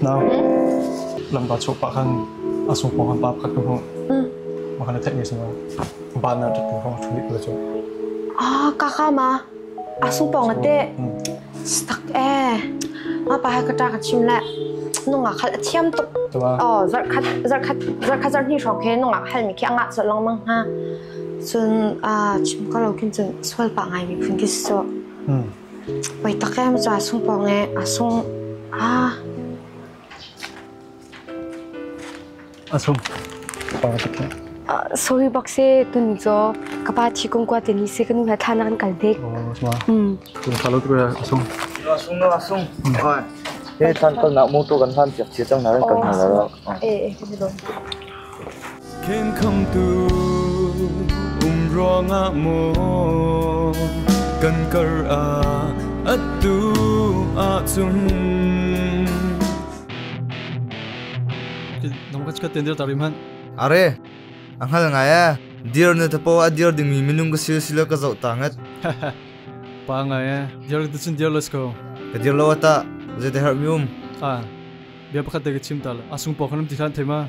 Nak lampa chuak pa khan a sung pawng khan pa pakhat ka hmu. Ma khan a theih mi singa ba na tat ka hong thuli kula chu. Ah, kakha ma. Asung pong ate. Stak eh. Ma pa ha kata ka chim le. Nunga khal a thiam tuk. Tua. Oh, zar khat zar khat zar khat zar ni trong khe nunga khal mi khi anga so long mang ha. Cun aa chim kho lo khin cun sual pah ngaimi phun khi si sawh. Poi tak em cu aa sung pawng ee, aa sung. Aa A sung. Pang tak nih. sawi bak se tun cho ka pa thi kong kwa te ni se kanu ha thana kan kal dek. Oh, sma. Tu sa lo tu a sung. A sung a sung. Oi. He tan ton nak mu tu kan hlan piak chia chang na ran kan hal la. Eh eh kan lo. Khenkhamtu um ruangah maw kan kar ah attu ahcun Are a hngal ngai e dir na tapo a dir dingmi minung ka sil sila ka zoh ta ngat Pa ngai e dir tu cun dir let's go ka dir lo ata zai te har mi um a bia pakhat te ka chim ta la asung po khanam ti khan thema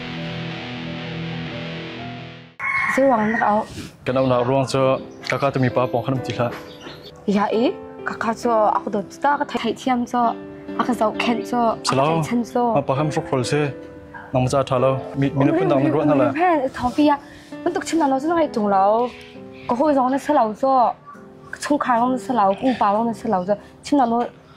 Kan unau ruang cu kaka tu mipa pawng khan um ti hlah. Ya i kaka cu aku dot ta ka thai thiam cu aka zau khen cu aka thai chan cu. Ma pa ham fok khol se. Nang ma cha tha lo. Mi mi na pun dang ruwa na la. Thawpi ya. Mun tuk chim na lo zu ngai tung lo. Ko ho zong na sa lo zu. Chung khai wong na sa lo, kung pa wong na sa lo zu. Chim na lo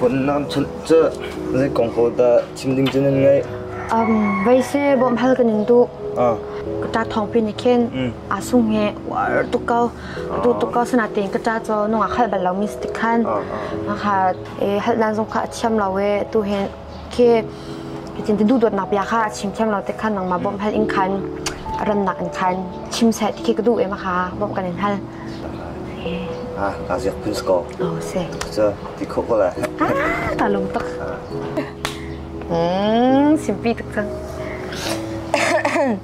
Funnak chunh cu zei kong pawl dah chim ding cu nan ngaih? Veise bawm hal kan in duh. Ka ta thong pin ni khin a sung he war tuk kau tu tuk kau sana tin ka ta cho nung a khal bal lo mi stik khan ha hal nan zong kha a thiam lo e tu hen khi chin ti duhdawtnak bia kha chim thiam lo te khan nangmah bawm hal in khan rannak in khan chim seh ti khi ka duh em kha bawm kan in hal ah ta ziak pun sko oh se cha ti kho ko la ah ta lum tak mm simpi tak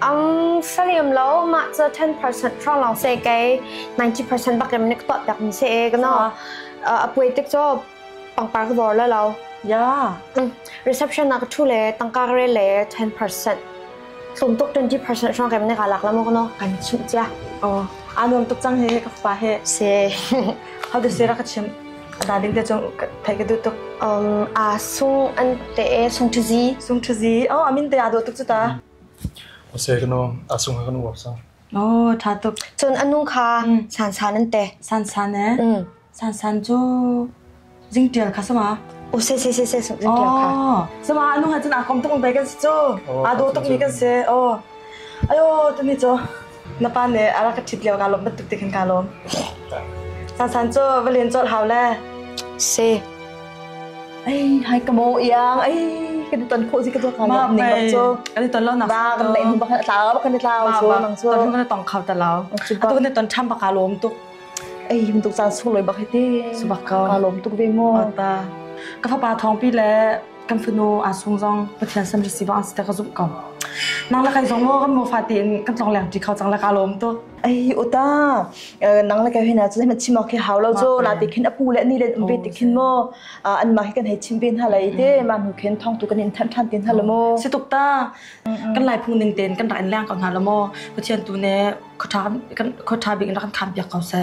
Ang saliam lo mah cu ten percent hrawng lawng se kei ninety percent bakin nik tuah piak mi se e kana a puai tik cu pangpar ka bor la lo. Ya. Reception na ka thu le tangka ka re le ten percent tlum tuk twenty percent hrawng kem ne ka lak la mo kana kan chim chia. Oh. Anuam tuk cang he ka pa he. Se. How to say ra ka chim. Hna ding te cung theih ka duh tuk. Um, a sung an te sung thu zi. Sung thu zi. Oh, amin te a do tuk cu ta. O se kano a sung ha kano sa. Oh, tha tuk. Cun anung kha san san an te. San san eh. San san cu jing tial kha sama. O se se se se sung jing tial kha. Oh, sama anung ha cun a kom tuk un bai kan si cu. A do tuk mi kan se. Oh. Ayo, tu ni cho. na pa nih a rak ka ṭhit lio naa lawm bantuk te khin kaa lawm. Sansan cu va len colh hau le. Se. Ai hai ka mo iang ai kan i ton khawh si ka tuak hau ning bak cu. Kan i ton lo nak. Na kan nei hnu bakal tlau bakal ni tlau so nang cu. Ton kan i tong khau ta lao. A ton ni ton ṭham baka lawm tuk. Ai tuk caan sung loi bak hiti. Subak kau. Ka lawm tuk ve mu. Ta. Ka fapa thong pi le kan fanu aa sung zong Pathian san si bang asi ta ka zumh ko. Nang la kai zong mo kan mo fa te in kan tlong leng ti kho chang la ka lom tu. ai ota nang la kai hina chu hna chima ke hau lo cho na te khin apu le ni le umbe te khin mo an ma kan hei chim ben ha lai te ma nu khin thong tu kan in than than tin ha lo mo si tuk ta kan lai phung ning ten kan ran lang ko na lo mo Pathian tu ne khotha kan khotha bi kan khan pia ko se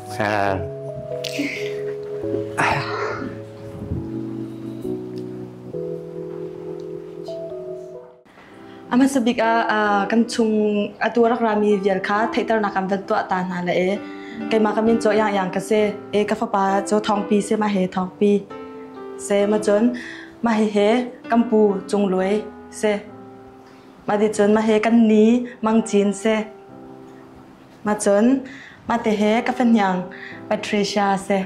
A hmasa bik ah kan chung atu rak rami vial kha theihternak kan van tuah ta hna le e keimah ka min cu Yang Yang ka si. E ka fapa cu thawngpi si ma he thawngpi se ma cun ma he he kan pu cung luai se ma di cun ma he kan ni mang cin se Macun mate he ka fahniang Patricia a si.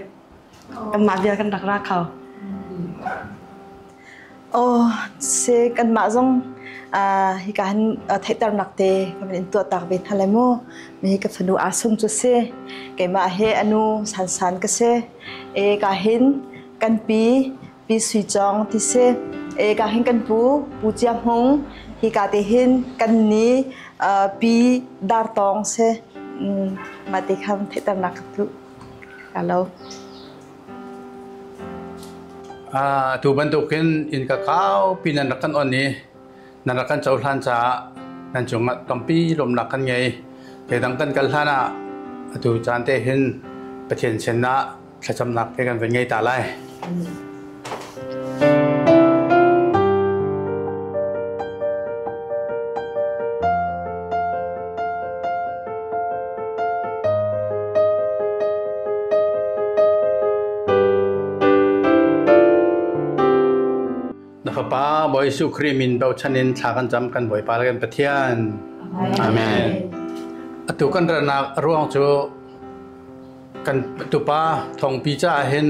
Kanmah vial kan rak ra kho. Oh, se kanmah zong uh, hi ka han uh, theihter nak te ka man in tua tak ve hna le mu me ka fanu a sung chu se keima he anu san san ka se e ka hin kan pi Pi Sui Cawng ti si. E ka hin kan pu Pu Cia Hmung hi ka te hin kan ni uh, pi Dar Tawng si. Mm, ma ti khan thetar nak tu. Hello. Ah, tu bantuk in in ka kau pi nan rakan on ni nan rakan chau hlan cha nan chung at tompi lom nak kan ngei te dang kan kal hlana atu chan te hin pathian chen na thlacamnak he kan vun ngei ta lai. Na fapa Bawi Jesuh Khrih min bochan in thla kan cam kan Bawipa le kan Pathian. Amen. Atu kan ratnak ruang cu kan tupa thongpi caah hin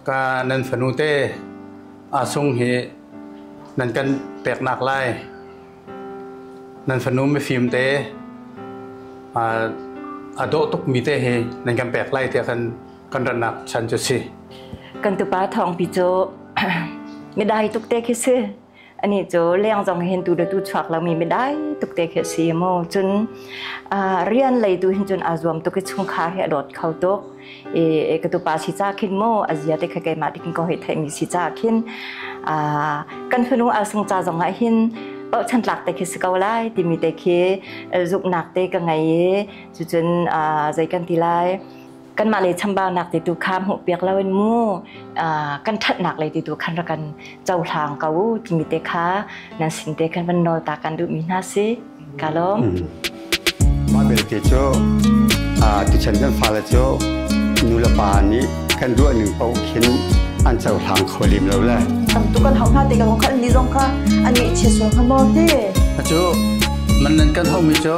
ka nan fanu te a sung hi nan kan peknak lai nan fanu mifim te a dawh tukmi te hi nan kan pek lai tiah kan kan ratnak chan cu si kan tupa thongpi cu midai tuk te khi si Ani cu leng zong hin tu le tu chuak lomi mi dai tuk te khi a si mu. Cun rian lei tu hin cun aa zuam tuk i chungkhar hi a dawt kho tuk. E ka tupa si ca khin mu a zia te kha keimah dikin ko hei theimi si ca khin kan fanu alsung ca zong ah hin bauhchan tlak te khi si ko lai timi te khi zuknak te ka ngei i cucun zei kan ti lai kanmah le chambaunak ti tu kha hmuhpiak loin mu kan thatnak le ti tu khan ra kan cohlang ko timi te kha nan sin te khan van nawl ta kan duhmi hna si ka lawm mah belte cu tichan kan fale cu nulepa nih kan ruah ning paoh khin an cohlang kho lim lo le tam tu kan hau hna te kan kha ni zong kha ani che so kha mo te cu man nan kan hau mi cu